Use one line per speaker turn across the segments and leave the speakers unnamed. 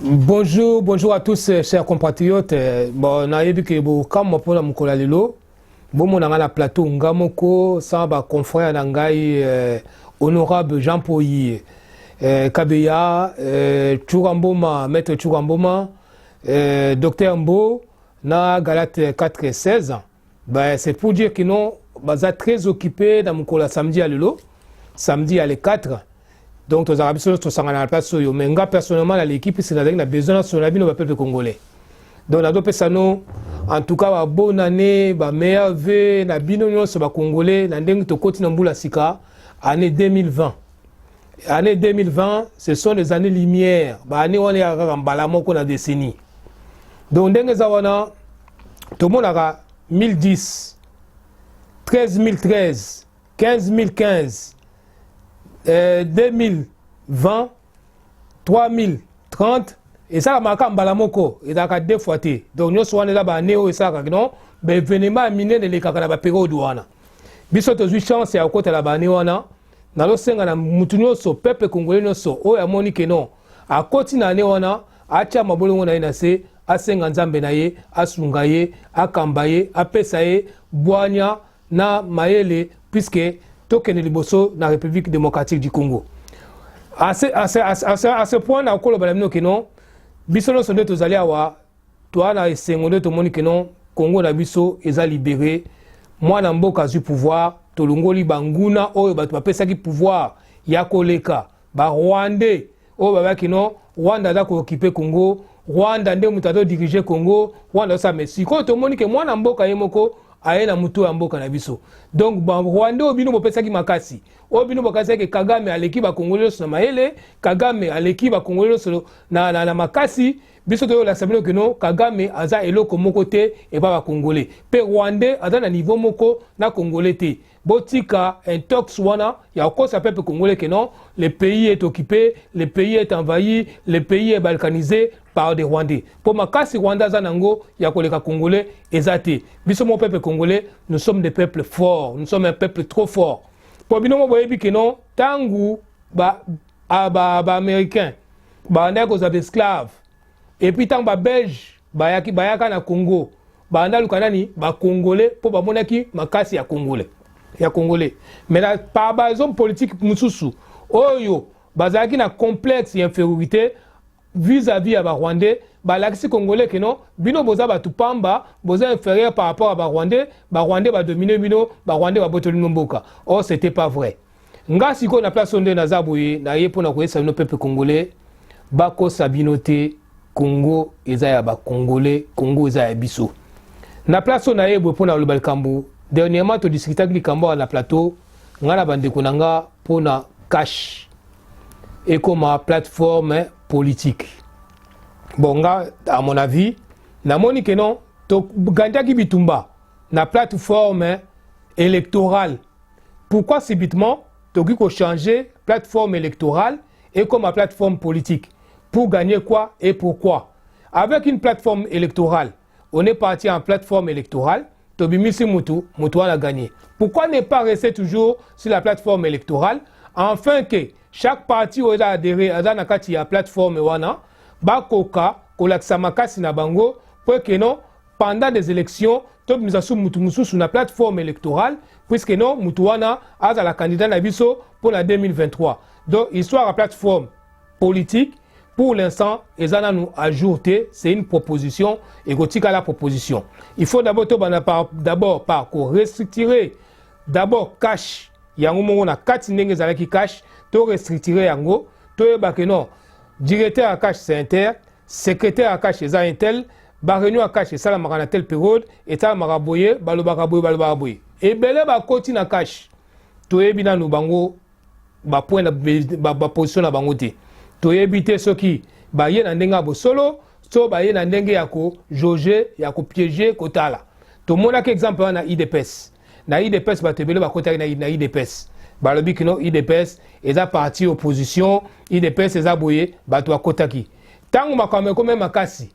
Bonjour, bonjour à tous, euh, chers compatriotes. Euh, bon, nayebi ke bokamwa mpona mokolo ya lelo bomona ngai na plateau nga moko sans baconfrère na ngai euh, honorable jean poyi euh, kabeya euh, tshura mboma maître tshura mboma euh, docteur mbo na galate 416 Ben, c'est pour dire que non, baza très occupé na mokolo ya samedi ya lelo samedi ya le 4 donc tozalaka biso nyonso tosangana na place oyo mais nga personnellement na leki mpisi nazalaki na besoin nasolo na bino bapeuple congolais donc nazopesa no en tout cas babonne année bameilleur ve na bino nyonso bacongolais na ndenge tokoti na mbula sika année 2020 année 2020 ce sont les années lumière baannée wana eyaka kaka mbala moko na décennie donc ndenge eza wana tomonaka 1010 13013 15015 eh, 2020 3030 esalamaka mbala moko ezalaka deux fois te donc nyonso wana eza baane oyo esalaka kino baevenema ya minene elekaka na baperiode wana biso tozwi chance ya kokotela baane wana nazosenga na motu nyonso pepe kongole nyonso oyo amoni keno akoti na ane wana atya mabolongo na ye na se asenga nzambe na ye asunga ye akamba ye apesa ye bwanya na mayele puiske tokende liboso na république démocratique du congo à ce, à ce, à ce, à ce point na okoloba na bino kino biso nyonso nde tozali awa toa na esengo nde tomoni kino congo na biso eza libere mwana mboka azwi pouvoir tolongoli banguna oyo bato bapesaki pouvoir ya koleka ba rwandais oyo babaki no rwanda aza kookipe congo rwanda nde moto azodirige congo rwanda azosala me sikoyo tomoni ke mwana mboka ye moko aye na motu ya mboka na biso donc barwandais oyo bino bopesaki makasi oyo bino bokasaki kagame aleki bakongoli nyonso na mayele kagame aleki bakongoli nyonso na, na, na makasi biso toyolakisa bino kino kagame aza eloko moko te epa bakongole mpe rwandais aza na niveau moko na kongole te botika intox wana ya kokosa peuple congolais que non le pays est occupé le pays est envahi le pays est balkanisé par des rwandais mpo makasi rwanda aza na yango ya koleka congolais eza te biso moko peuple congolais nous sommes des peuples forts nous sommes un peuple trop fort mpo bino moko boyebi que non ntango baaméricain ba, ba, ba bandaki kozala baesclave epuis ntango babelge bayaki bayaka na congo banda luka nani bakongole mpo bamonaki makasi ya kongole ya kongole me na par bahomme politique mosusu oyo bazalaki na complexe ya infériorité vis-à-vis ya barwandais balakisi congolais keno bino boza bato pamba boza inférieur par rapport ya barwandais barwandais badomine bino barwandais babotoli bino mboka or oh, c'était pas vrai nga sikoyo na place oyo nde naza boye naye mpo na koyesa bino peuple congolais bakosa bino te congo eza ya bacongolais congo eza ya biso na place oyo naye boye mpo na koloba likambo dernièrement todiskutaki likambo awa na plateau ngai na bandeko na nga mpo na cash ekoma plateforme politique bon nga à mon avis namoni ke non togandaki bitumba na plateforme électorale Pourquoi subitement tokoki ko changer plateforme électorale et comme plateforme politique pour gagner quoi et pourquoi Avec une plateforme électorale, on est parti en plateforme électorale, Tobimisi Moutou, Moutou a gagné. Pourquoi ne pas rester toujours sur la plateforme électorale afin que chaque parti oyo eza adhéré aza na kati ya plateforme wana bakoka kolakisa makasi na bango mpo ekeno pendant des élections tobimisa su mutu mosusu na plateforme électorale puisque non mutu wana azala candidat na biso mpo na 2023 donc histoire ya plateforme politique pour l'instant eza nanu à jour te c'est une proposition ekotikala proposition il faut d'abord tobanda par d'abord par ko restructurer d'abord cash yango moko na kati ndenge ezalaki cash to restructurer yango toyeba que non directeur ya cash c'est un tel secrétaire ya cash eza un tel ba réunion ya cash esalamaka na tel periode esalamaka boye balobaka boye balobaka boye ebele bakoti na cash toyebi nanu bango bapoint baposition na bango te toyebi te soki baye na ndenge ya bosolo so baye na ndenge ya kojauge ya kopiege kotala tomonaki exemple wana na idps na idps bato ebele bakotaki na idps balobi kino idps eza parti opposition idps eza boye bato bakotaki ntango makambo ekomi makasi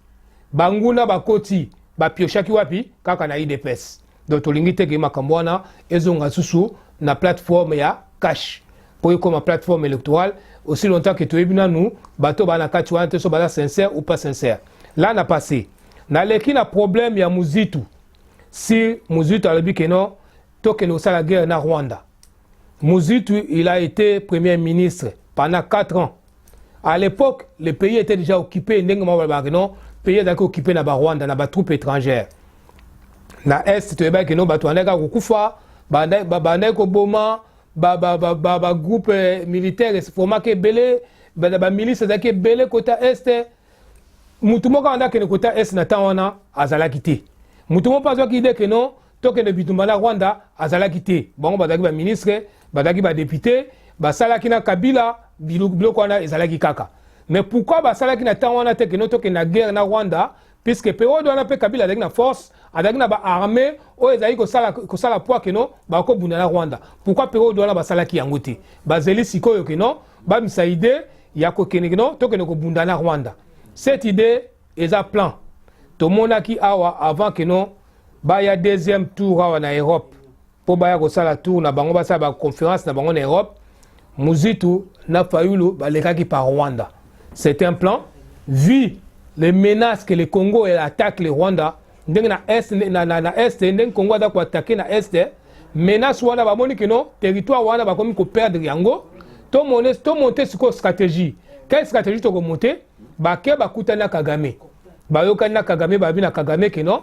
banguna bakoti bapioshaki wapi kaka na idps donc tolingi te ke makambo wana ezonga susu na plateforme ya cash mpo ekoma plateforme électorale aussi longtemps ke toyebi nanu bato baa na kati wana te so baza sincère ou pas sincère la na passé naleki na problème ya muzitu si muzitu alobi ke non tokende kosala guerre na rwanda muzitu il a été premier ministre pendant 4 ans à l'époque le pays était déjà occupé ndenge mwa balobaka ke non pays ezalaki occupé na barwanda na batroupe étrangère na est toyebaki ke non bato bandaki kaka kokufa bandaki koboma bagroupe euh, militaire esformaki ebele bamilice ezalaki ebele kota est motu moko abandaki kende kota est na temps wana azalaki te motu moko mpe azwaki ide ke non tokende bitumba na rwanda azalaki te bango bazalaki baministre bazalaki badepute basalaki na kabila biloko wana ezalaki kaka mais pourquoi basalaki na ntango wana te keno tokende na guerre na rwanda puisque periode wana mpe kabila azalaki na force azalaki na baarme oyo ezalaki kosala, kosala poi keno bakobunda na rwanda pourkui periode wana basalaki yango te bazeli sikoyo keno bamisa ide ya kokende keno tokende kobunda na rwanda cette idee eza plan tomonaki awa avant que non baya deuxième tour awa na europe mpo baya kosala tour na bango basala baconférence na bango na europe muzitu na fayulu balekaki par rwanda c'est un plan vu les menaces que le congo attaque le rwanda ndenge na est na, na, na est ndenge congo aza koattake na est menace wana bamoni kino territoire wana bakomi koperdre yango tomonte sikoyo stratégie quelle stratégie tokomonte bake bakutani na kagame bayokani na kagame babi na kagame ke non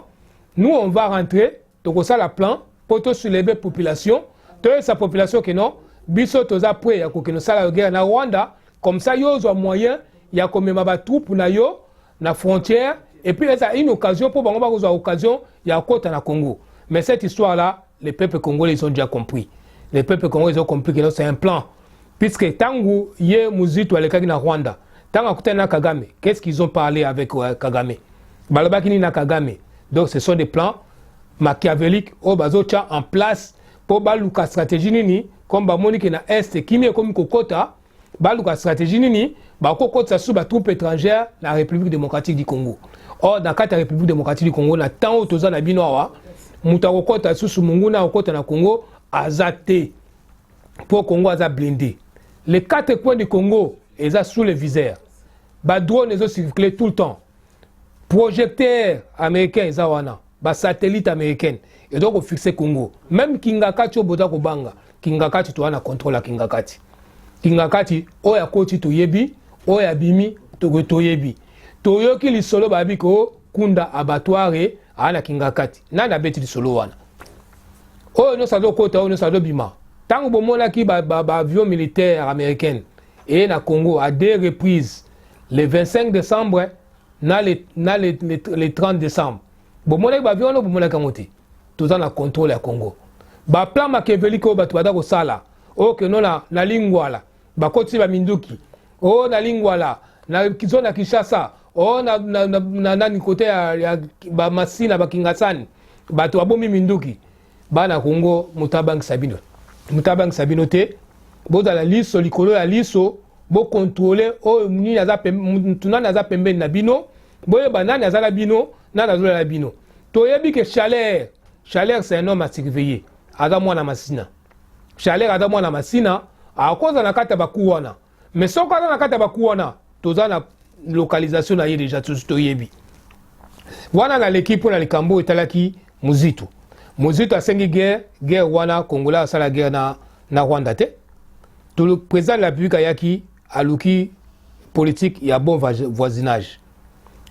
nous on va rentrer tokosala plan mpo tosuleve population toyebisa population ke non biso toza pre ya kokende osala yo guerre na rwanda comme ça yo ozwa moyen ya komema batroupe na yo na frontière et puis eza une occasion mpo bango bakozwa occasion ya kokota na congo mais cette histoire là les peuples congolais ils ont déjà compris les peuples congolais ils ont compris que c'est un plan puisque ntango ye muzito alekaki na rwanda ntango akutani na kagame qu'est ce qu'ils ont parlé avec euh, kagame balobaki nini na kagame donc ce sont des plans machiavelique oyo bazotya en place mpo baluka stratégie nini comme bamoni ke na est kimia ekomi kokota baluka stratégie nini bakokotisa susu batroupe étrangère na république démocratique du congo or na kati ya république démocratique du congo na ntango toza na bino awa moto akokota lisusu monguna akokota na congo aza te mpo congo aza blinde les quatre coins du congo eza sous le viseur badrone ezocircule tout le temps projecteur américain eza wana basatellite américaine ezo kofixe congo meme kingakati oyo boza kobanga kingakati toza na contrôle ya kingakati kingakati oyo akoti toyebi oyo abimi toyebi toyoki lisolo babi ko kunda abatware aa na kingakati nani abeti lisolo wana oyo nyonso azokota oyo nyonso azobima ntango bomonaki baavion ba, ba militaire américaine eye na congo à deux reprises le 25 décembre na le, na le, le, le 30 décembre bomonaki baavion wana bomonaki yango te toza na contrôle ya congo baplan makevelike oyo bato baza kosala oyo keno na, na lingwala bakotisi baminduki o oh, na lingwala na zona kinshasa o oh, na, na, na, na nani kote ya, ya bamasina bakingasani bato babomi minduki bana kongo moto abangisa bino moto abangisa bino te bozala liso likolo ya liso bokontrole oyo nini aza motu nani aza pembeni na bino boyeba nani aza na bino nani azolala bino toyebi ke chaleur chaleur c'est un homme à surveiller aza mwana masina chaleur aza mwana masina akoza na kati ya baku wana mais soko aza na kati ya baku wana toza na localisation na ye deja tosi toyebi wana naleki mpo na likambo oyo etalaki muzitu muzitu asengi guerre guerre wana congolais asala guerre na, na rwanda te président de la république ayaki aluki politique ya bon voisinage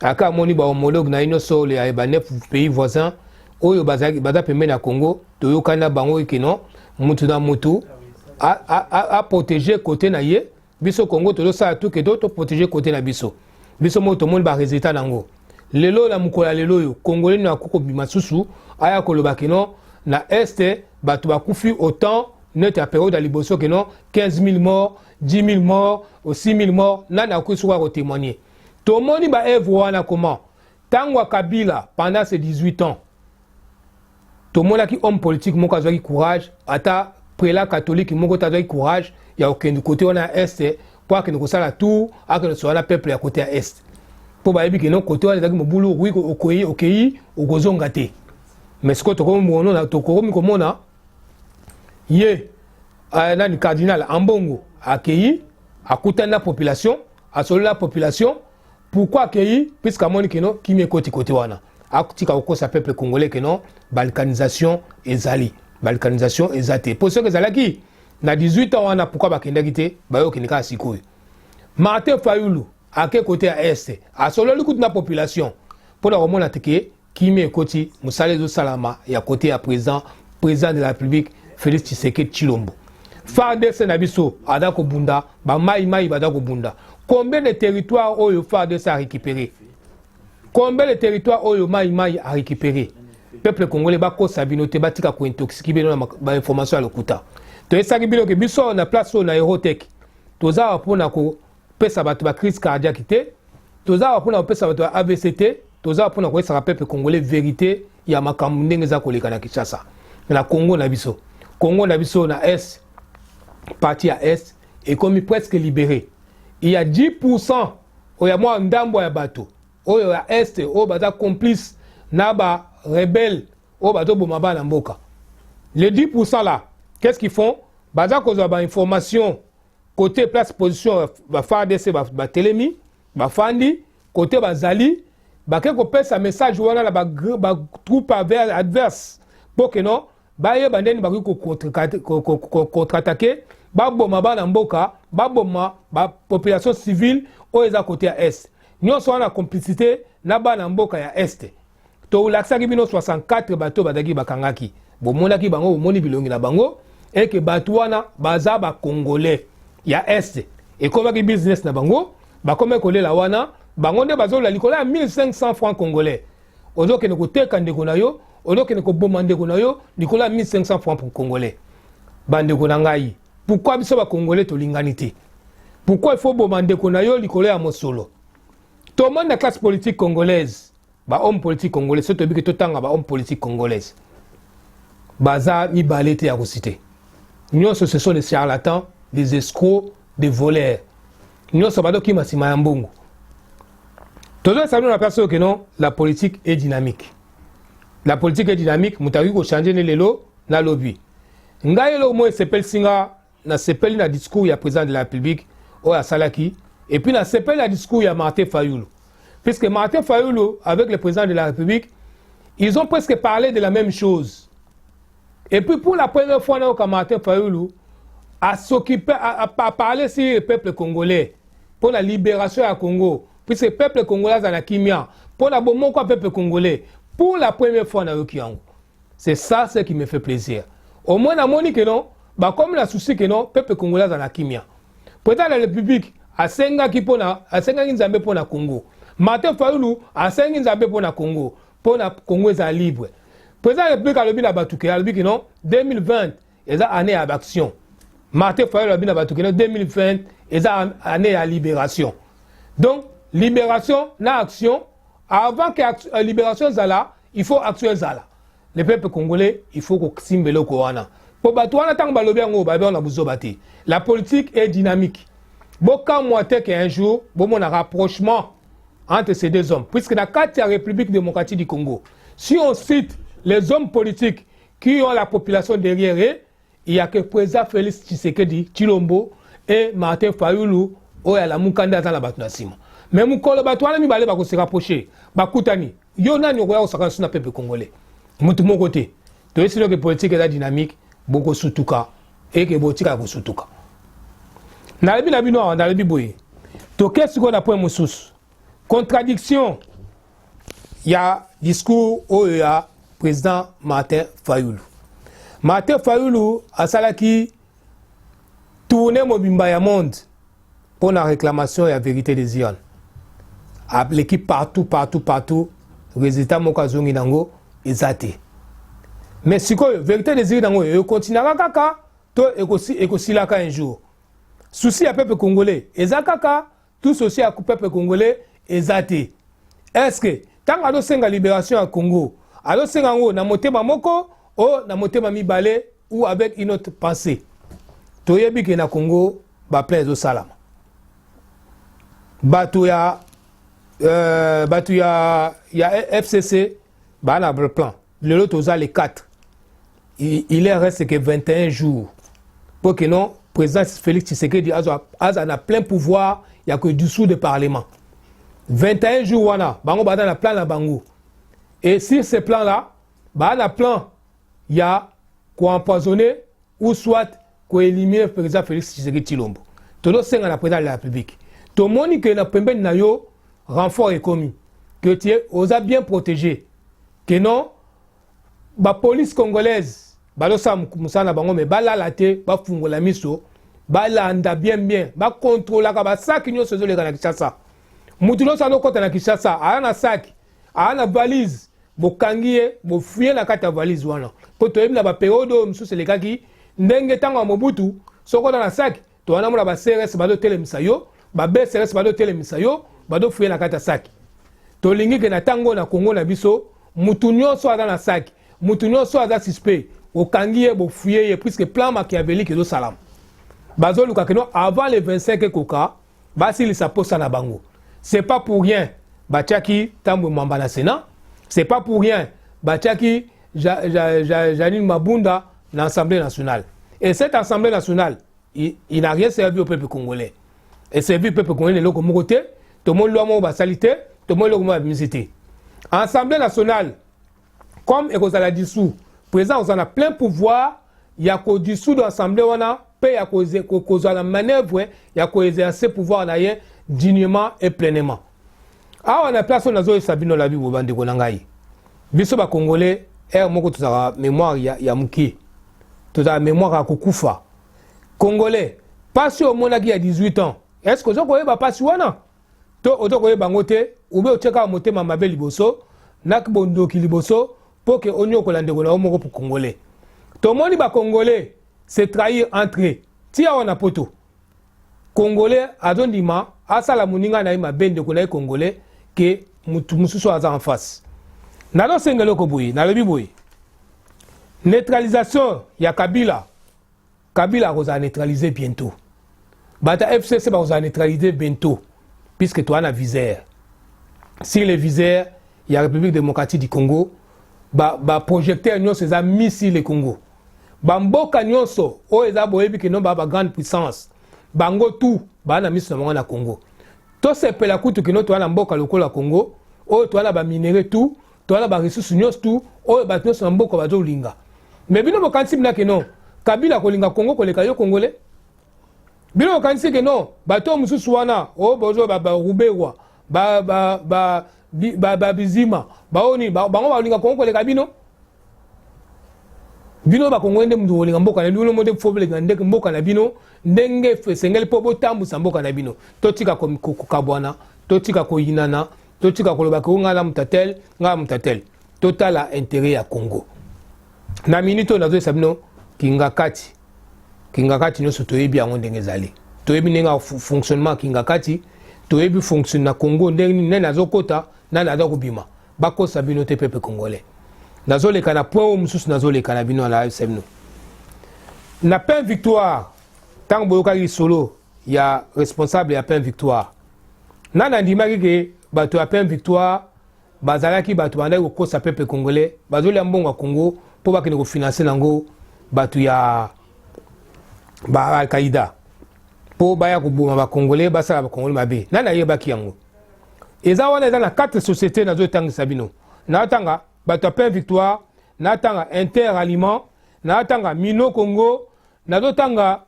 aka amoni ba homologue na ino solo ya ba neuf pays voisins oyo baza baza pembeni ya Congo toyokani na bango kino mutu na mutu a, a, a, a protéger côté na ye biso Congo tozosala tout que to to protéger côté na biso biso moko tomoni ba résultat nango lelo na mokolo ya lelo oyo congolais na kuko bima susu aya koloba kino na est bato bakufi autant neti ya periode ya liboso kino 15 000 morts 10000 morts au 6000 morts nani akoki soki ako témoigner tomoni ba œuvre wana comment tango ya Kabila pendant ses 18 ans tomonaki homme politique moko azwaki courage ata prela catholique moko te azwaki courage ya kokende kote wana ya este mpo akende kosala tour akende kosola na peuple ya kote ya este mpo bayebi ke non kote wana ezalaki mobulu okoki okei okozonga te mais sikoyo tokomi komona ye uh, nani cardinal ambongo akeyi akutani na population asololi na population pourquoi akeyi puisque amoni keno kimi ekoti kote wana atika kokosa peuple congolais keno balkanisation ezali balkanisation eza te mpo soki ezalaki na 18 ans wana pourkui bakendaki te bayokende kaka sikoyo martin fayulu ake kote ya este asololi kutu na population mpo na komona teke Kimia ekoti mosala ezosalama ya kote ya president president de la République Félix Tshisekedi Tshilombo. FARDC na biso ada kobunda ba mai mai bada kobunda. Combien de territoires oyo FARDC a récupéré? Combien de territoires oyo mai mai a récupéré? Peuple congolais bakosa bino te batika ko intoxiquer bino na ba information ya lokuta. Toyesaki bino ke biso na place oyo na Eurotech toza mpona ko kopesa bato ba crise cardiaque te toza awa mpona kopesa bato ya avc te toza awa mpona koyesaka peuple congolais verité ya makambo ndenge eza koleka na kinshasa na congo na biso congo na biso na est parti ya est ekomi presque libéré il y a 10 pourcent oyo ya mwa ndambo ya bato oyo ya est oyo baza complice na ba rebelle oyo bazoboma bana mboka le 10 pourcent là qu'est ce qu'ils font baza kozwa bainformation kote place position ba fardc batelemi bafandi kote bazali bake kopesa message wana na batroupe adverse mpo keno bayeba ndeni bakoki kokontratake baboma bana mboka baboma bapopulation civile oyo eza kote ya est nyonso wana complicité na bana mboka ya este tolakisaki bino 64 bato bazalaki bakangaki bomonaki bango bomoni bilongi na bango eke bato wana baza bacongolais ya est ekomaki business na bango bakomaki kolela wana bango nde bazolola likolo ya 1500 franc congolais ozokende koteka ndeko na yo ozokende koboma ndeko na yo likolo ya 1500 franc pour congolais bandeko na ngai pourkui biso bacongolais tolingani te pourkui il faut boma ndeko na yo likolo ya mosolo tomoni na classe politique congolaise ba homme politique congolais soki toyebi ke totanga ba homme politique congolaise baza mibale te ya kosite nyonso ce sont des charlatans des escrocs des voleurs nyonso badokima nsima ya mbongo tozongisa bino na place oyo keno la politique est dynamique la politique est dynamique moto akoki kochange nde lelo na lobi ngai eloko moko esepelisi nga nasepeli na discours ya president de la republique oyo asalaki et puis nasepeli na discours ya martin fayulu puisque martin fayulu avec le président de la république ils ont presque parlé de la même chose et puis pour la première fois nayoka martin fayulu à s'occuper à, à, à parler sur le peuple congolais pour la libération ya congo puisque peuple congolais aza na kimia mpo na bomoko ya peuple congolais pour la première fois nayoki yango C'est ça ce qui me fait plaisir. Au moins namoni que non bakomi na souci que non peuple congolais azala kimia. Président de la République asengaki mpona asengaki Nzambe mpo na Congo. Martin Fayulu asengi Nzambe mpo na Congo, mpo na Congo ezala libre. Président de la République alobi na bato ke alobi que non 2020 eza année ya action martin fayolo abi na bato kino 2020 eza année ya libération donc libération na action avant que euh, libération ezala il faut action ezala le peuple congolais il faut kosimba eloko wana mpo bato wana ntango balobi yango babi wana buzoba te la politique est dynamique bokamwa te ke un jour bomona rapprochement entre ces deux hommes puisque na kati ya république démocratique du congo si on cite les hommes politiques qui ont la population derrière eux, il n'y a que président Félix Tshisekedi, Chilombo et Martin Fayulu, oyo ya Lamukanda aza na bato na nsima. Mais mokolo bato wana mibale ba se rapprocher, bakutani, yo nani okoya kosakana suna peuple congolais? Moto moko te. Toyesi loke politique eza dynamique, bokosutuka eke botika kosutuka. Nalobi na bino awa, nalobi boye, toke sikoyo na point mosusu. contradiction ya discours oyo ya président martin fayulu martin fayulu asalaki tourne mobimba ya monde mpo na réclamation ya vérité des urnes aleki partout partout partout résultat moko azongi nango eza te mais sikoyo vérité des urnes yango ekokontinuaka kaka to ekosilaka un jour souci ya peuple congolais eza kaka tout ceci ya peuple congolais eza te est ce que ntango azosenga liberation ya congo azosenga yango na motema moko o na motema mibale ou avec une autre pensée toyebi ke na congo baplan ezosalama bato ya euh, bato ya, ya fcc baa na plan lelo toza le 4 il, il est reste que 21 jours pour que non président Félix Tshisekedi aza aza na plein pouvoir ya ko dissoudre parlement 21 jours wana bango baza na plan na bango et sur ce plan là baza na plan ya koempoisonner ou soit koéliminer président Félix Tshisekedi Tshilombo tozosenga na président de la République tomoni ke na pembeni na yo renfort ekomi que tu es oza bien protégé que non ba police congolaise balosala mosala na bango me balala te bafungola miso balanda bien bien bakontrolaka basaki nyonso ezoleka na kinshasa motu nyonso azokɔta na kinshasa aya na saki aya na valise bokangi ye bofuye na kati ya valise wana mpo toyebi na baperiode oyo mosusu elekaki ndenge ntango ya mobutu soki oza na saki to wana mona ba CRS bazo telemisa yo ba BCRS bazo telemisa yo bazo fuye na kati ya saki tolingi ke na tango na Congo na biso mutu nyonso aza na saki mutu nyonso aza suspect okangi ye bofuye ye puisque plan machiavélique ezo salama bazo luka ke no avant le 25 ekoka basilisa posa na bango c'est pas pour rien batiaki Tambwe Mwamba na Sénat c'est pas pour rien batiaki Janine Mabunda na assemblée nationale et cette assemblée nationale il, il n'a rien servi au peuple congolais et servi au peuple congolais eloko moko te tomoni lwa moko basali te tomoni eloko moko babimisi te assemblée nationale comme ekozala dissous président akozala na plein pouvoir ya kodissoudre assemblée wana mpe ya kozwa na manœuvre ya koexerce pouvoir na ye dignement et pleinement awa na place oyo nazoyesa bino labi boye bandeko na ngai biso bakongole ere moko tozalaka mémoire ya, ya moke tozalaka mémoire ya kokufa congolais mpasi oyo omonaki ya 18 ans est ce que oza koyeba mpasi wana to oza koyeba yango te ube otyekaka motema mabe liboso na bondoki liboso mpo ke onyokola ndeko na yo moko congolais tomoni bacongolais se trahir entre ti awa na poto congolais azondima asala moninga na ye mabe ndeko na ye congolais ke motu mosusu aza en face nazosenga eloko boye nalobi boye neutralisation ya kabila kabila akozala neutralise bientôt bato ya fcc bakozala neutralise bientôt puisque toa na visere sur le visere ya république démocratique du congo baprojecteur ba nyonso eza mis sur le congo ba mboka nyonso oyo eza boyebi kino ba grande puissance bango tout baa na miso na bango na congo tosepela kutu kino toa na mboka lokola congo oyo toa na baminere tout toa na baresource nyonso tout oyo bato nyonso na mboka bazolinga me bino bokanisi bina kino kabila akolinga congo koleka yo congolais bino bokanisi kino bato mosusu wana oyo oh, bozo baruberwa ba ba ba ba ba, ba bizima baoni ba, bango balinga kongo koleka bino bino bakongo nde mutu kolinga mboka na bino mode fobelenga ndeke mboka na bino ndenge esengeli mpo botambwisa mboka na bino totika kokabwana totika koyinana totika koloba ke ngai na mutatel ngai na mutatel totala interet ya congo na minute oyo nazoyesa bino kingakati kingakati nyonso toyebi yango ndenge ezali toyebi ndenge fonctionnement ya kingakati toyebi fonction na congo ndenge nini nani azokota nani aza kobima bakosa bino te pepe congolais nazoleka na point oyo mosusu nazoleka na bino na semno na pain victoire ntango boyokaki lisolo ya responsable ya pain victoire nani andimaki ke bato ya pain victoire bazalaki bato bandaki kokosa pepe congolais bazolia mbongo ya congo mpo bakende kofinanse nango bato ya ba alkaida mpo baya koboma bacongolais basala bacongolais mabe nani ayebaki yango eza wana eza na quatre société nazotangisa bino natanga bato ya pain victoire natanga inter aliment natanga mino congo nazotanga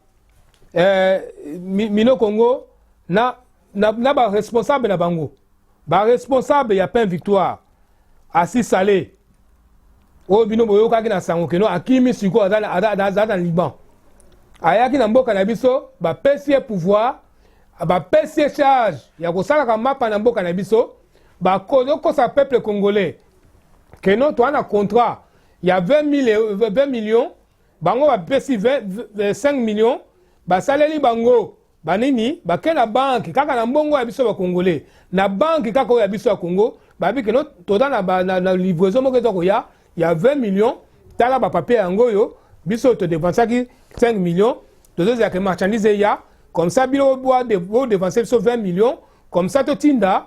eh, mino congo na, na, na baresponsable na bango ba responsable ya pain victoire asi sale oyo bino boyokaki na sango keno akimi sikoyo aza na liban ayaki na mboka na biso bapesi ye pouvoir bapesi ye charge ya kosalaka mapa na mboka na biso bakozokosa peuple congolais keno toa na contrat ya 20 millions bango bapesi 5 millions basaleli bango banini bake na banki kaka na mbongo ya biso bakongole na banki kaka oyo ya biso ya kongo babi keno toza na, na, na livraison moko eza koya ya 20 millions tala bapapier yango oyo biso todepensaki 5 millions tozozela ke marchandise eya comme ça bino bodepense biso 20 millions comme ça totinda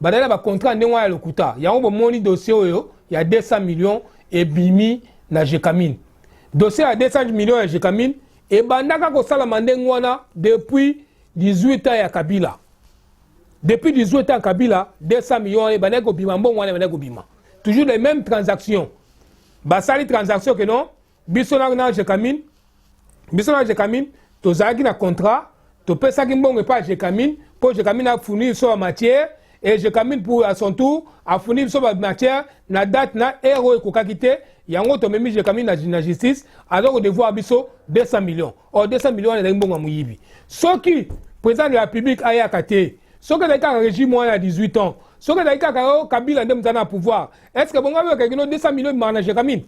badali na bacontra ndenge wana ya lokuta yango bomoni dossier oyo ya 200 millions ebimi na jecamine dossier ya 200 millions ya jecamine ebandaka kosalama ndenge wana depuis 18 ans ya kabila depuis 18 ans ya kabila 200 millions wana ebandaki kobima mbongo wana ebandaki kobima toujours les mêmes transactions basali transaction ke non biso na, na jekamine biso na jekamine tozalaki na contrat topesaki mbongo epai ya jekamine mpo jekamine afuni biso ba matière e jekamine pour à son tour afuni biso ba matière na date na heure oyo ekokaki te yango tomemi jekamine na, na justice aza kodevoir biso 200 millions or 200 millions wana ezalaki mbongo ya moyibi soki président de la république ayaka te soki ezalaki kaka régime wana ya 18 ans soki ezalaki kaka yo kabila nde mozali na pouvoir est ce que bongo ayoka kino 200 millions ebimaka na jekamine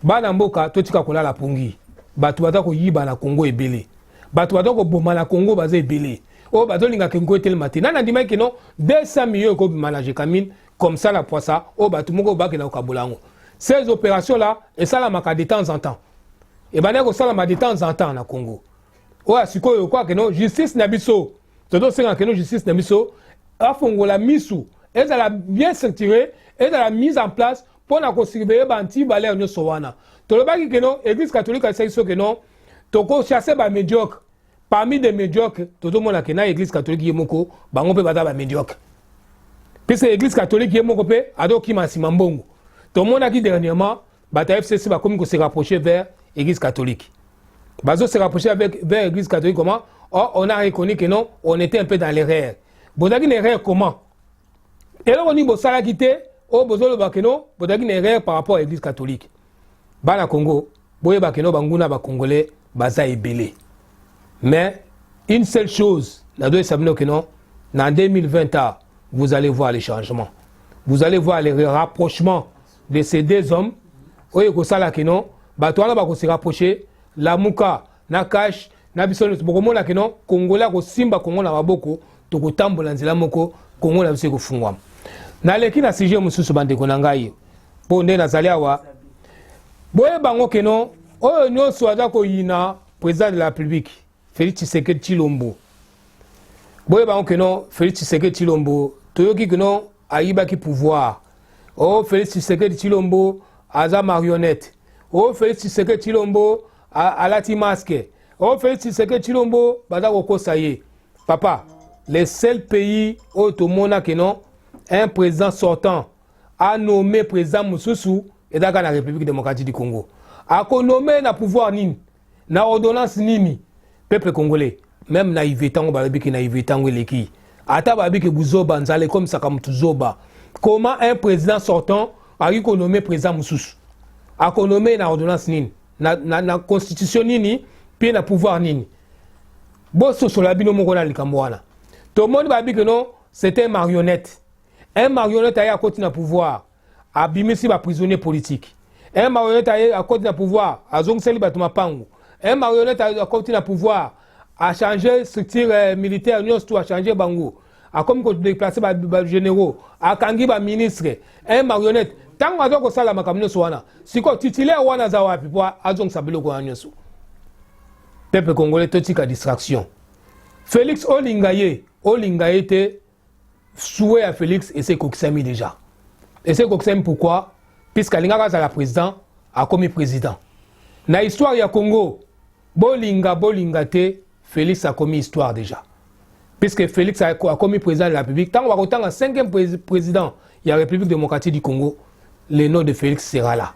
bana mboka totika kolala pongi bato baza koyiba na kongo ebele bato baza koboma na kongo baza ebele oyo bazolinga kengo etelema te nani andimaki kino 200 million ekobima na jekamine comme ça na poisa oyo bato moko bakenda kokabola yango ces opérations là esalamaka de temps en temps ebandaki kosalama de temps en temps na congo oyo ya sikoyo okoka keno justice na biso tozosenga keno justice na biso afongola misu ezala bien structuré ezala mise en place mpo na kosurveille ba antivaleur nyonso wana tolobaki keno église catholique alisaki so keno tokochasse bamédiocre parmi des médiocre tozomona ke na église catholique ye moko bango mpe baza bamédiocre puisque église catholique ye moko mpe azokima nsima mbongo tomonaki dernièrement bato ya fcc bakomi kose rapprocher vers église catholique bazo se rapprocher avec vers église catholique comment oh, on a reconnu que non on était un peu dans l'erreur bozalaki na erreur comment eloko nini bosalaki te oyo bozoloba keno bozalaki na erreur par rapport ya église catholique bana congo boyeba keno banguna bacongolais baza ebele mais une seule chose nazoyesa bino keno na 2020 a vous allez voir les changements vous allez voir les rapprochements de ces deux hommes oyo ekosala keno bato wana bakose rapproche lamuka na cash na biso nyonso bokomona keno kongole akosimba kongo na maboko tokotambola nzela moko kongo na biso ekofungwama naleki na sujet mosusu bandeko na ngai mpo nde nazali awa boyeba ngo keno oyo nyonso aza koyina président de la république félix tshisekedi tshilombo boyeba ngo keno félix tshisekedi tshilombo toyoki keno ayibaki pouvoir o oh, félix tshisekedi tshilombo aza marionnette o oh, félix tshisekedi tshilombo alati masque oyo oh, Felix Tshisekedi Tshilombo baza kokosa ye papa le seul pays oyo tomona ke non un président sortant a nommé président mosusu ezalaka na république démocratique du congo akonome na pouvoir nini na ordonnance nini peuple congolais meme na ive ntango balobi ke na ive ntango eleki ata balobi ke buzoba nzala ekomisaka motu zoba comment un président sortant akoki konome président mosusu akonome na ordonnance nini na, na, na constitution nini mpe na pouvoir nini bososola bino moko na likambo wana tomoni babi ke no c'était marionnette un marionnette aye akoti na pouvoir abimisi baprisonnier politique un marionnette aye akoti na pouvoir azongiseli bato mapangu un marionnette akoti na pouvoir achange structure euh, militaire nyonso to achange bango akomi kodeplace bagénéraux akangi baministre un marionnette ntango aza kosala makambo nyonso wana sikoyo titulaire wana aza wapi mpo azongisa biloko wana nyonso pepe congolais totika distraction félix olinga ye olinga ye te souwe ya félix esi ekokisami déjà esi ekokisami pourquoi puisque alingaka azala président akomi président na histoire ya congo bolinga bolinga te felix akomi histoire déjà puisque felix akomi président de la république ntango bakotanga 5e président ya république démocratique du congo le nom de felix sera là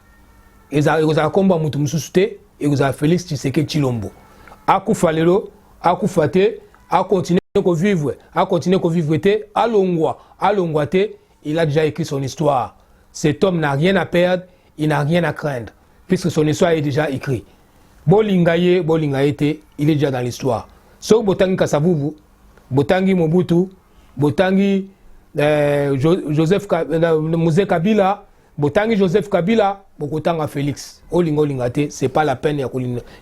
ekozala nkombo ya moto mosusu te ekozala felix tshiseke tshilombo akufa lelo akufa te akontinue kovivre akontinue kovivre te alongwa alongwa te il a déjà écrit son histoire cet homme n'a rien à perdre il n'a rien à craindre puisque son histoire est déjà écrit bolinga ye bolinga ye te il est déjà dans l'histoire soki botangi kasavubu botangi mobutu botangi eh, joseph euh, muse kabila botangi joseph kabila bokotanga félix olinga olinga te c'est pas la peine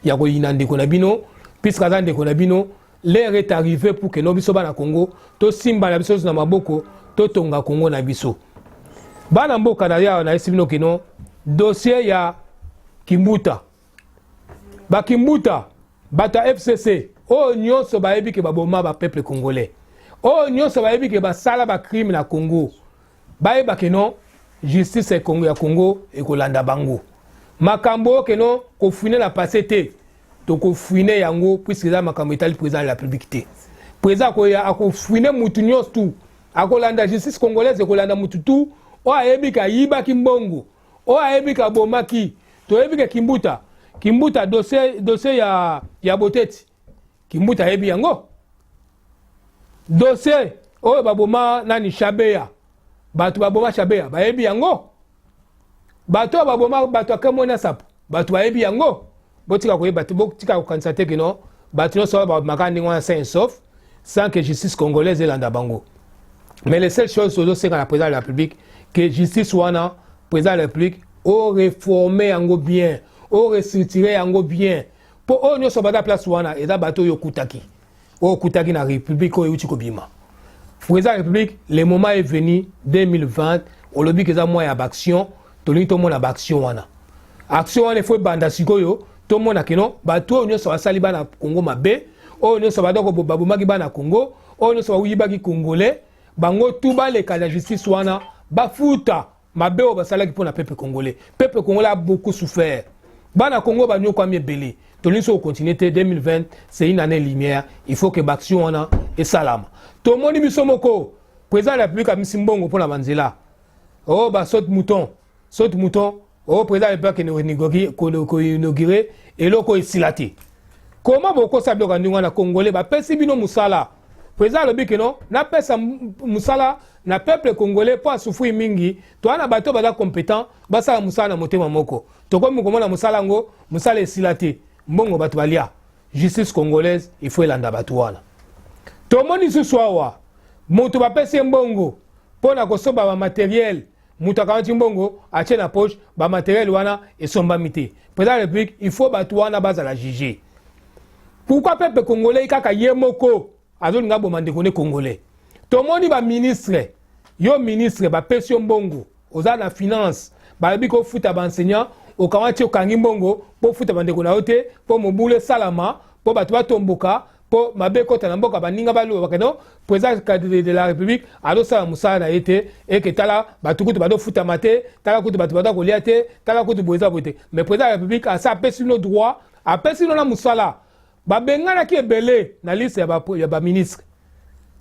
ya koyina ndeko na bino puisque aza ndeko na bino L'heure est arrivée pour que lobi soba na Congo to simba na biso na maboko to tonga Congo na biso. Bana mboka na ya na esibino kino dossier ya Kimbuta. Ba Kimbuta bata FCC oyo oh, nyonso bayebi ke baboma ba peuple congolais. Oyo oh, nyonso bayebi ke basala ba crime na Congo. Bayeba ke non justice ya Congo ya Congo ekolanda bango. Makambo oyo ke non kofune na passé te. tokofwine yango puiske eza makambo etali président de la république te président akoya akofwine motu nyonso tu akolanda justice congolaise ekolanda motu tu oyo ayebi ke ayibaki mbongo oyo ayebi ke abomaki toyebi ke kimbuta kimbuta dossier, dossier ya, ya boteti kimbuta ayebi yango dossier oyo baboma nani shabeya bato baboma shabeya bayebi yango bato oyo baboma bato ya kembo na sapo bato bayebi yango botika koyeba te botika kokanisa te kino bato nyonso oyo babomaka ndenge wana sain sauf sans que justice congolaise elanda bango mais le seul chose tozosenga na président de la république que justice wana président de la république oreforme yango bien orestructure yango bien mpo oyo nyonso banda place wana eza bato oyo okutaki oyo okutaki na république oyo euti kobima président ya république le moment est venu 2020 olobi ke eza mwa ya baaction tolingi tomona baaction wana action wana efo ebanda sikoyo tomona keno bato oyo nyonso basali bana congo mabe oyo nyonso badoko babomaki bana congo oyo nyonso bayibaki congolais bango tu baleka na justice wana bafuta mabe oyo basalaki mpo na peuple congolais peuple congolais a beaucoup souffert bana congo banyokwami ebele tolingi so kocontinue te 2020 c'est une année lumière il faut que baaction wana esalama tomoni biso moko président ya république amisi mbongo mpo na banzela o oh, basaute mouton saute mouton o oh, président ya république koinaugure eloko esila te koma bokosa biloko ya ndenge wana congolais bapesi bino mosala President alobi que non, napesa musala na peuple congolais mpo asufui mingi toa na bato baza competent basala mosala na motema moko tokomi komona mosala yango mosala esila te mbongo bato balia justice congolaise il faut elanda bato wana tomoni lisusu awa moto bapesi ye mbongo mpo na kosomba bamateriele moto akamati mbongo atie na poche bamateriel wana esombami te président ya république il faut bato wana bazala juge pourkui pepe congolais kaka ye moko azolinga boma ndeko ne congolais tomoni baministre yo ministre bapesi yo mbongo oza na finance balobi kofuta baenseignant okamati okangi mbongo mpo ofuta bandeko na yo te mpo mobulu esalama mpo bato batomboka mpo mabe ekota na mboka baninga baluba bakende mpo eza cadre de la république azosala mosala na ye te eke tala bato kutu bazofutama te tala kutu bato baza kolia te tala kutu boye eza boye te mais président ya république asi apesi bino droit apesi bino na mosala babenganaki ebele na liste ya baministre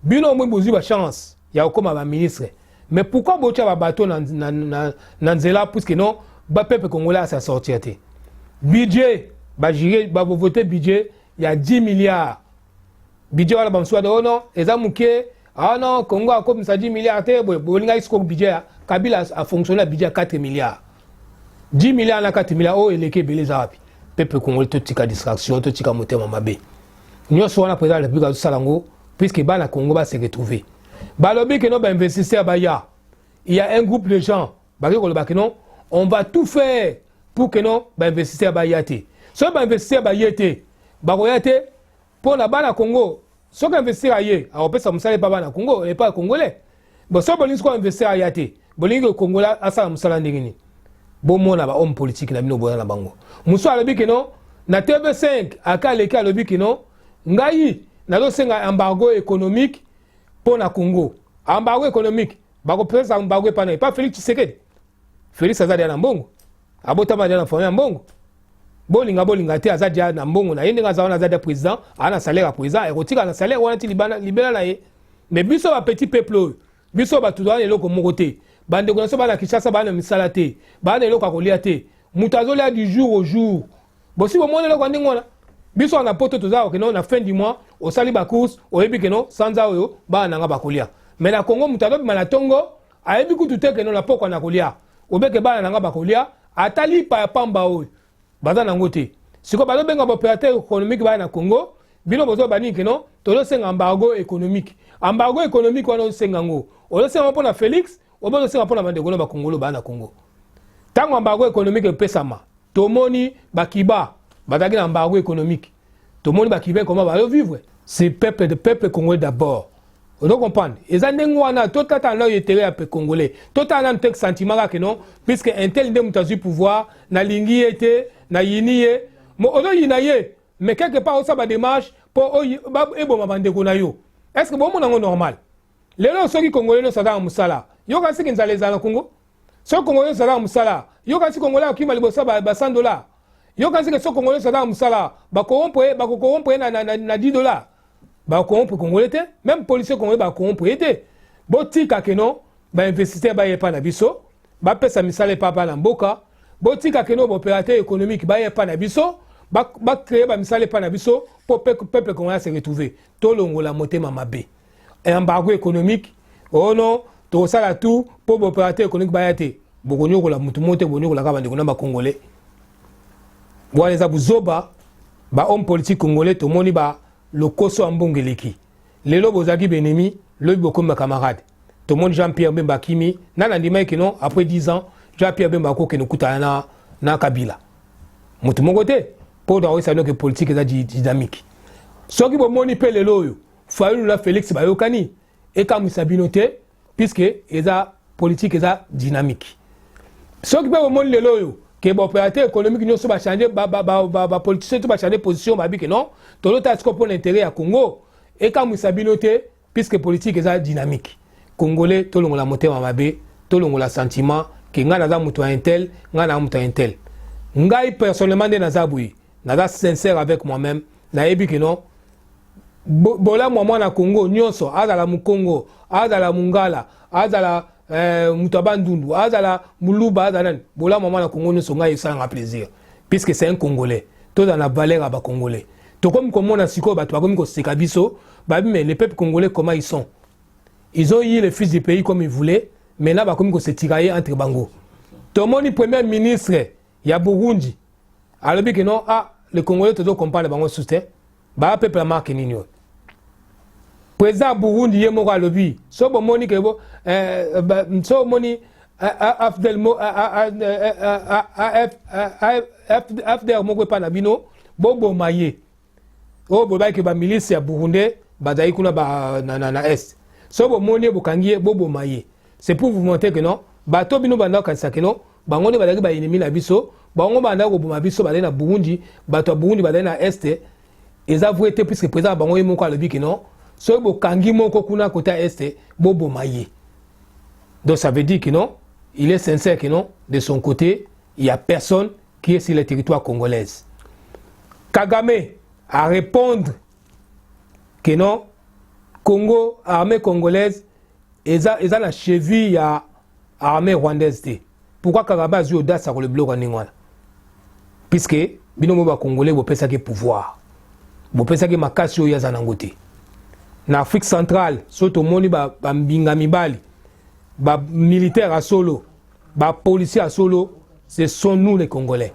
bino omoi bozwi bachance ya kokóma baministre mais pourquoi botya babato na, na, na, na nzela puiske non bapepe congolais asi asortir te budget bajuge bavovote budget ya 10 milliards budget wana bamosusu wana oh non eza moke ah non congo akomisa 10 milliards te boye bolingaki sikoyo budget ya kabila afonctionne na budget ya 4 milliards 10 milliards na 4 milliards oyo oh, eleki ebele eza wapi peuple congolais totika distraction totika motema mabe nyonso wana président de la république azosala yango puisque bana congo base retrouve balobi ke no bainvestisseur baya il y a un groupe de gens bakoki koloba ke non on va tout faire pour ke non bainvestisseur baya te soki bainvestisseur baye te bakoya te mpo na bana congo soki investisseur aye akopesa mosala epa bana congo epa congolais bo soki bolingi sikoyo investisseur aya te bolingi ke congola asala mosala ndenge nini bomona bahomme politique na bino boya na bango mosusu alobi ke non na tv5 aka aleki alobi ke non ngai nazosenga embargo économique mpo na congo ambago économique bakopesa ambago epa na epa félix tshisekedi félix aza deya na mbongo abotama deya na famille ya mbongo bolinga bolinga te aza deya na mbongo na ye ndenge aza wana aza deya président aa na salaire ya président ekotika na salaire wana ti libela na ye mais biso bapetit peuple oyo biso bato toza na eloko moko te bandeko na biso bana kinshasa baa na misala te baa na eloko ya kolia te moto azolia du jour au jour bosi bomoni eloko ya ndenge wana biso wana poto toza okeno na fin du mois osali bacourse oyebi keno sanza oyo bana na nga bakolia me na kongo moto azobima na ntongo ayebi kutu te keno na pokwa na kolia obeke bana na nga bakolia ata lipa ya pamba oyo baza nango te sikoyo bazobenga baopérateur économique baya na congo bino bozoba nini keno tozosenga embargo économique embargo économique wana ozosenga yango ozosenga yango mpo na félix obozo senga mpona bandeko na bakongolo baa na congo ntango ambargo économique epesama tomoni bakiba bazalaki na ambargo économique tomoni bakiba ekoma bayo vivre c'est peuple de peuple congolais d'abord ozo comprendre eza ndenge wana totata nano etere ya congolais totala nano te sentiment kake non puisque intel nde moto azwi pouvoir nalingi ye te nayini ye ozoyina ye mais quelque part osala badémarche mpo eboma bandeko na yo est ce que bomona yango normal lelo soki kongole nyonso azalaka mosala yoka siki nzala ezala na kongo soki kongole nyonso azalaka mosala yoka si kongole akima liboso ba100 dola yoka siki soki kongole nyonso azalaka mosala bakowompre bakokowompre na 10 dola bakowompre kongole te meme policier kongole bakowompre ye te botika keno bainvestisseur baye epai na biso bapesa misala epai bana mboka botika keno baopérateur économique baye epai na biso bacreye bamisala epai na biso mpo peuple kongole ase retrouve tolongola motema mabe embargo économique oh non tokosala tout mpo baopérateur économique baya te bokonyokola motu mo te bonyokola kaka bandeko na bacongolais wana eza buzoba bahomme politique congolais tomoni ba lokoso ya mbongo eleki lelo bozalaki benemi lobi bokomi bacamarade tomoni jean pierre bemba akimi nani andimaki kino après 10 ans jean pierre bemba akokende okutana na, na kabila motu moko te mpo nakoyesa noke politike eza dynamique soki bomoni mpe lelo oyo fayulu na felix bayokani ekamwisa bino te puisque eza politique eza dynamique soki mpe bomoni lelo oyo ke baopérateur économique nyonso bachange bapoliticien to bachange position babi ke non tolotala sikoyo mpo na intérêt ya congo ekamwisa bino te puisque politique eza dynamique congolais tolongola motema mabe tolongola sentiment ke ngai naza moto ya intel ngai naza moto ya intel ngai personnellement nde naza boye naza sincère avec moi-même nayebi ke non bolamu ya mwana kongo nyonso azala mokongo azala mongala azala eh, moto ya bandundu azala moluba azala nani bolamu ya mwana kongo nyonso ngai esalanga plaisir puisque c'est un congolais tozala na valeur ya bacongolais tokomi komona sikoyo bato bakomi koseka biso babi mais le peuple congolais comment ils sont ils ont eu le fils du pays comme ils voulaient maintenant bakomi kosetikaye entre bango tomoni premier ministre ya burundi alobi ke no ah, le congolais tozo compare bango susu te baya peuple ya marke nini oyo président ya burundi ye moko alobi so bomoni ke bo eh, so omoni afdel afdel moko epai na bino boboma ye oyo oh, boyebaki ba milice ya burundais bazali kuna ba, na, na, na est soki bomoni ye bokangi ye boboma ye c'est pour vous montrer que non bato bino bandaki kokanisa que non bango nde bazalaki baennemi na biso bango bandaki koboma biso bazali na burundi bato ya burundi bazali na este eza vrai te puisque président na bango ye moko alobi ke non soki bokangi moko kuna kote ya este boboma ye donc ça veut dire que non il est sincère que non de son côté il y a personne qui est sur le territoire congolaise. Kagame a répondre que non, Congo, armée congolaise, ils ont la cheville à armée rwandaise. Pourquoi Kagame a eu audace à le bloc en Ningwana Puisque, binomo ba congolais, vous pensez que pouvoir. Vous pensez que makasi oyo aza nango te. Na Afrique centrale, soto moni ba, ba mbinga mibali, ba militaire à solo, ba policiers ya solo ce sont nous les congolais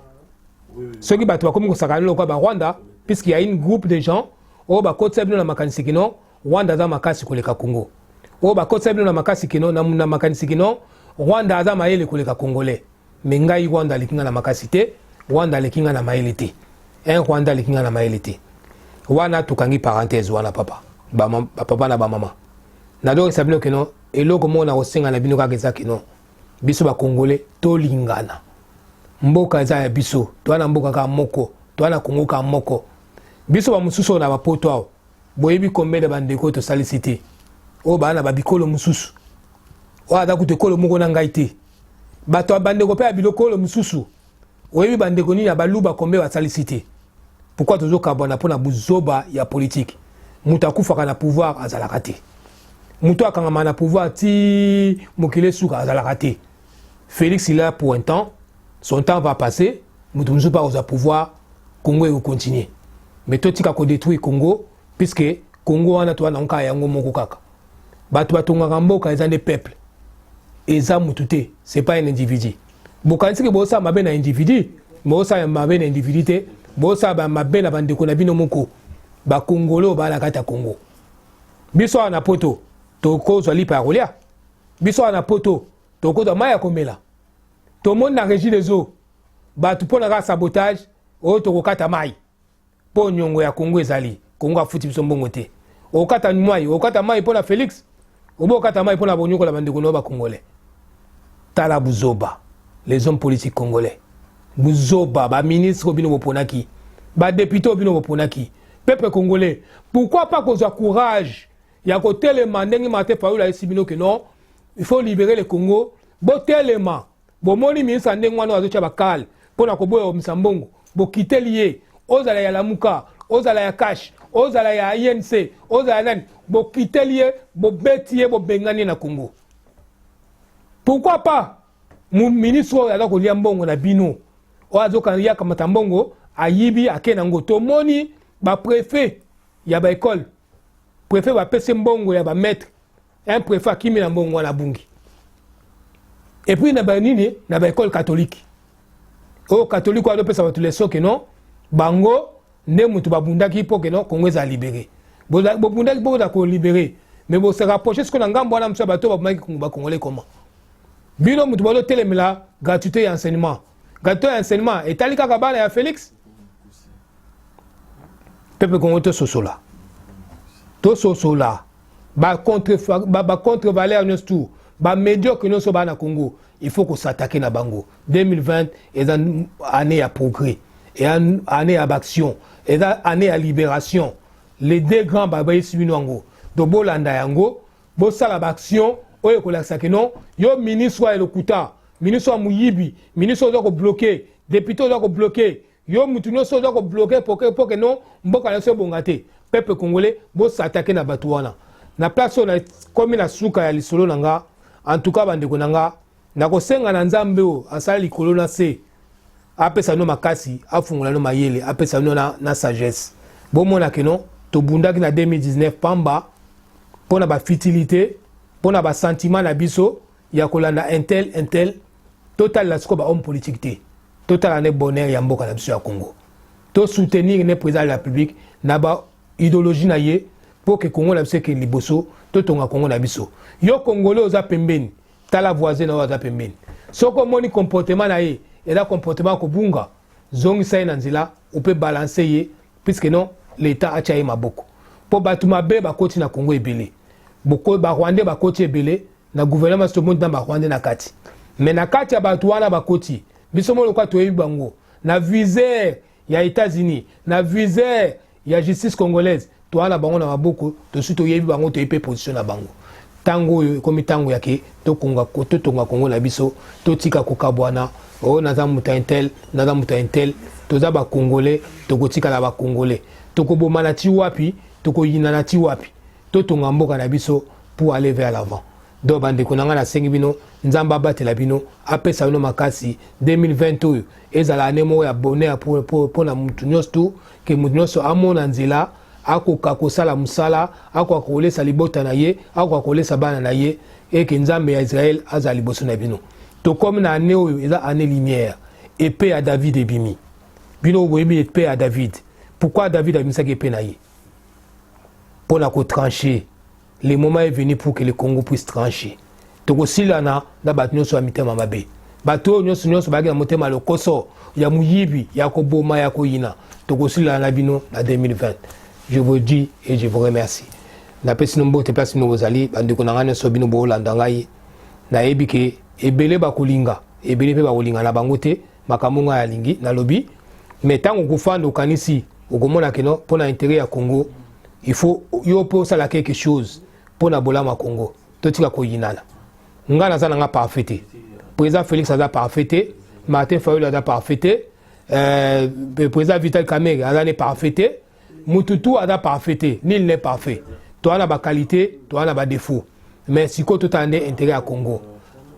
soki bato bakomi kosakana lokola ba rwanda puisque ya une groupe de gens oyo bakotisa bino na makanisi kino rwanda aza makasi koleka congo oyo bakotisa bino na makasi kino na makanisi kino rwanda aza mayele koleka congolais me ngai rwanda aleki ngai na makasi te rwanda aleki ngai na mayele te un rwanda aleki ngai na mayele te wana tokangi parenthèse wana papa bapapa na bamama nazongisa bino kino eloko moko nakosenga na bino kaka eza kino biso bakongole tolingana mboka eza ya biso toa na mboka kaka moko toa na kongo kaka moko biso bamosusu oyo na bapoto awa boyebi kombele bandeko oyo tosalisi te oyo baa na babikolo mosusu oyo aza kutu ekolo moko na ngai te bato ya bandeko mpe ya bilokolo mosusu oyebi bandeko nini ya baluba kombe basalisi te pourkui tozokabwana mpo na buzoba ya politike moto akufaka na pouvoir azalaka te moto akangama na pouvoir ti mokili esuka azalaka te félix il a pour un temps son temps va passer moto mosusu mpe akozwa pouvoir congo ekokontinue mais totika kodétruire congo puisque congo wana towana yango kaka yango moko kaka bato batongaka mboka eza nde peuple eza motu te c'est pas un individu bokanisi ke bosala mabe na individu bosala mabe na individu te bosala mabe na bandeko na bino moko bakongolo bala kati ya kongo biso awa na poto tokozwa lipa ya kolia biso awa na poto tokozwa mai ya komela tomoni na régi des eaux bato mpo na kaka sabotage oyo tokokata mai mpo nyongo ya kongo ezali kongo afuti biso mbongo te okata mai okata mai mpo na félix obo okata mai mpo na bonyokola bandeko nao bakongolais tala buzoba les hommes politiques congolais buzoba baministre oyo bino boponaki badepute oyo bino boponaki peuple congolais pourquoi pas kozwa courage ya kotelema ndenge mate fayulu ayesi bino ke non il faut libérer le congo botelema bomoni ministre ya ndenge wana azotya bakale mpo na koboya omisa mbongo bokiteli ye ozala ya lamuka ozala ya cash ozala ya inc ozala nani bokiteli ye bobeti ye bobengani ye na congo pourquoi pas ministre oyo aza kolia mbongo na bino oyo azoyakamata mbongo ayibi ake na ngo tomoni baprefet ya baekole prefet bapesi mbongo ya bamaître un prefet akimi na mbongo wana abungi et puis na ba nini na ba école catholique oyo oh, catholique wana opesa bato leso ke non bango nde moto babundaki mpo ke non congo ezala libere bobundaki mpo boza kolibere mais bose rapproche sikoyo na ngambo wana mosu ya bato babomaki kongo bakongole koma bino moto bazotelemela gratuité ya enseignement gratuité ya enseignement etali kaka bana ya félix peuple congolais tososola tososola bacontre-valeur ba, ba contre nyonso tu bamédiocre nyonso baa na congo il faut kosatake na bango 2020 eza année ya progrès eza année ya baaction eza année ya libération les deux grands babayisi bino yango donc bolanda yango bosala baaction oyo ekolakisa ke non yo ministre ya lokuta ministre ya moyibi ministre oza kobloke depute oza kobloke yo mutu nioso oza ko bloquer poke poke non mboka na biso ebonga te peuple congolais bosatake na bato wana na place oyo nakomi na suka ya lisolo na nga en tout cas bandeko na nga nakosenga na nzambe oyo asala likolo na se apesa no makasi afungola no mayele apesa no na, na sagesse bomona ke non tobundaki na 2019 pamba mpo na bafitilité mpo na basentiment na biso ya kolanda intel intel totalela sikoyo bahomme politique te totala nde bonheur ya mboka na biso ya congo tosoutenir nde président de la république na ba idéologie na ye mpo ke kongo na biso ekende liboso totonga kongo na biso yo kongole oza pembeni tala voisin na oyo aza pembeni soki omoni comportement na ye eza comportement ya kobunga zongisa ye na nzela ope balanse ye puiske non leta atya ye maboko mpo bato mabe bakoti na kongo ebele barwandais bakoti ebele na gouvernement soki tomoni na ba rwandais na kati mais na kati ya bato wana bakoti biso moko lokola toyebi bango na viser ya États-Unis na viser ya justice congolaise toa na bango na maboko tosi toyebi bango toyebi mpe position na bango ntango oyo ekomi ntango ya ke totonga kongo na biso totika kokabwana o oh, naza moto ya intel naza moto ya intel toza bakongole tokotikala bakongole tokobomana ti wapi tokoyinana ti wapi totonga mboka na biso pour aller vers l'avant donc bandeko na ngai nasengi bino nzambe abatela bino apesa bino makasi 2020 oyo ezala ane moko ya bonheur mpo na motu nyonso tu ke motu nyonso amona nzela akoka kosala mosala akoka kolesa libota na ye akoka kolesa bana na ye eke nzambe ya israele azala liboso na bino tokomi na ane oyo eza ane lumière epe ya david ebimi bino boyebi epe ya david pourkui david abimisaki epe na ye mpo na kotranche le moment est venu pour que le congo puisse tranche tokosilana na bato nyonso ya mitema mabe bato oyo nyonso nyonso bayaki na motema ya lokoso ya moyibi ya koboma ya koyina tokosilana na bino na 2020 je vous dis et je vous remercie napesi no mbote place bino bozali bandeko na ngai nyonso bino boolanda ngai nayebi ke ebele bakolinga ebele mpe bakolinga na bango te makambo ngai alingi nalobi me ntango okofanda okanisi okomona keno mpo na intere ya congo il faut yo mpe osala quelque chose mpo na bolamu ya congo totika koyinana ngai naza na ngai parfait te président félix aza parfait te martin fayulu aza parfait te euh, président vital kamere aza ne parfait te mutu tu aza parfait te nil n'est parfait toa na baqualité toa na badefaut mais sikoyo totala nde intérêt ya congo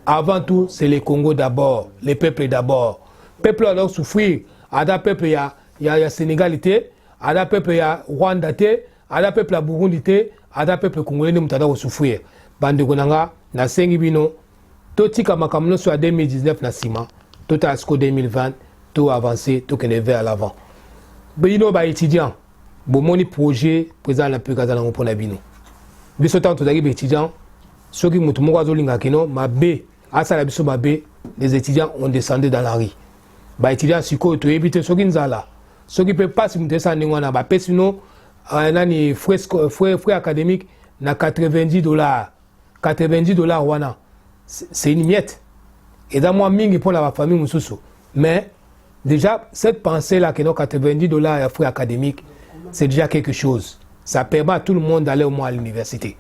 avant tout c'est le congo d'abord le peuple d'abord peuple oyo azalaki souffrir aza peuple ya, ya, ya sénégal te aza peuple ya rwanda te aza peuple ya burundi te aza peuple congolais nde moto aza kosouffrir bandeko na nga nasengi bino totika makambo nyonso ya 2019 na nsima totala siko 2020 to avance tokende vers l'avant bino baétudiant bomoni projet président de la république aza nango mpo na bino biso ntango tozalaki baétudiant soki moto moko azolinga kino mabe asala biso mabe les étudiants ont descendu dans la rue baétudiant sikoyo toyebi te soki nzala soki mpe mpasi moto esala ndenge wana bapesi bino euh, nani frais académique na 90 dollars 90 dollars wana c'est une miette eza mwa mingi mpo na bafamille mosusu mais déjà cette pensée là que no 90 dollars ya frais académique c'est déjà quelque chose ça permet à tout le monde d'aller au moins à l'université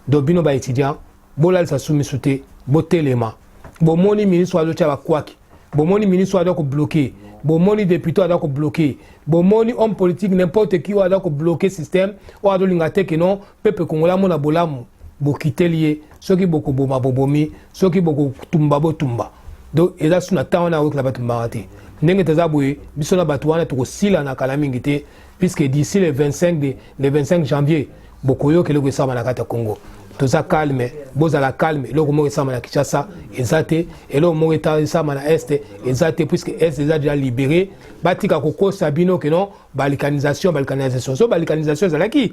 donc bino baétudiant bolalisa sumisu te botelema bomoni ministre azotya bakwaki bomoni ministre aza kobloke bomoni depute aza kobloke bomoni homme politique n'importe qui oyo aza kobloke système oyo azolinga te ke non pepe congolais amona bolamu bokiteli ye soki bokoboma bobomi soki bokotumba botumba donc eza su na ntango wana akoki na batumbaka te ndenge toza boye biso na bato wana tokosilana kala mingi te puisque d'ici le 25 de, le 25 janvier bokoyoka eloko esama na kati ya congo toza calme bozala calme eloko moko esama na kinshasa eza te eloko moko esama na est eza te puisque est eza deja libéré batika kokosa bino ke non balikanisation balikanisation so balikanisation ezalaki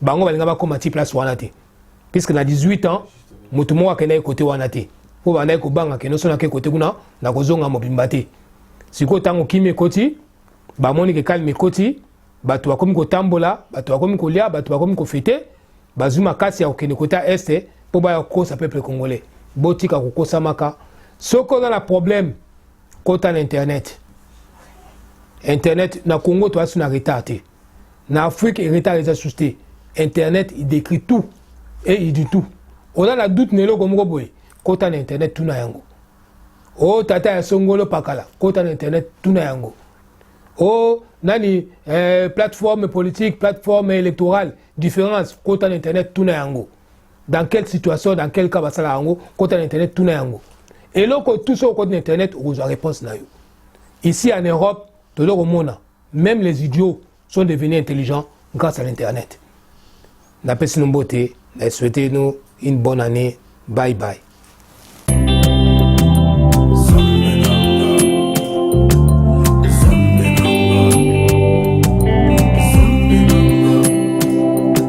bango balinga bakóma ti place wana te puisque na 18 ans moto moko akendaki kote wana te mpo bandaki kobanga ke noso nake kote kuna nakozonga mobimba te sikoyo ntango kimi ekoti bamoni ke kalme ekoti bato bakomi kotambola bato bakomi kolia bato bakomi kofete bazwi makasi ya kokende kota este mpo baya kokosa peuple congolais botika kokosamaka soki oza na problème kota na internet internet na congo toasi na retard te na afrique retard eza susu te internet il décrit tout et il dit tout oza na doute na eloko moko boye kota na internet tuna yango o oh, tata ya songolo pakala kota na internet tuna yango o oh, nani eh, plateforme politique plateforme électorale différence kota na internet tuna yango dans quelle situation dans quel cas basala yango kota na internet tuna yango eloko tout soki okoti na internet okozwa réponse na yo ici en europe tozo komona même les idiots sont devenus intelligents grâce à l'internet napesi no mbote na souhaite no une bonne année bye bye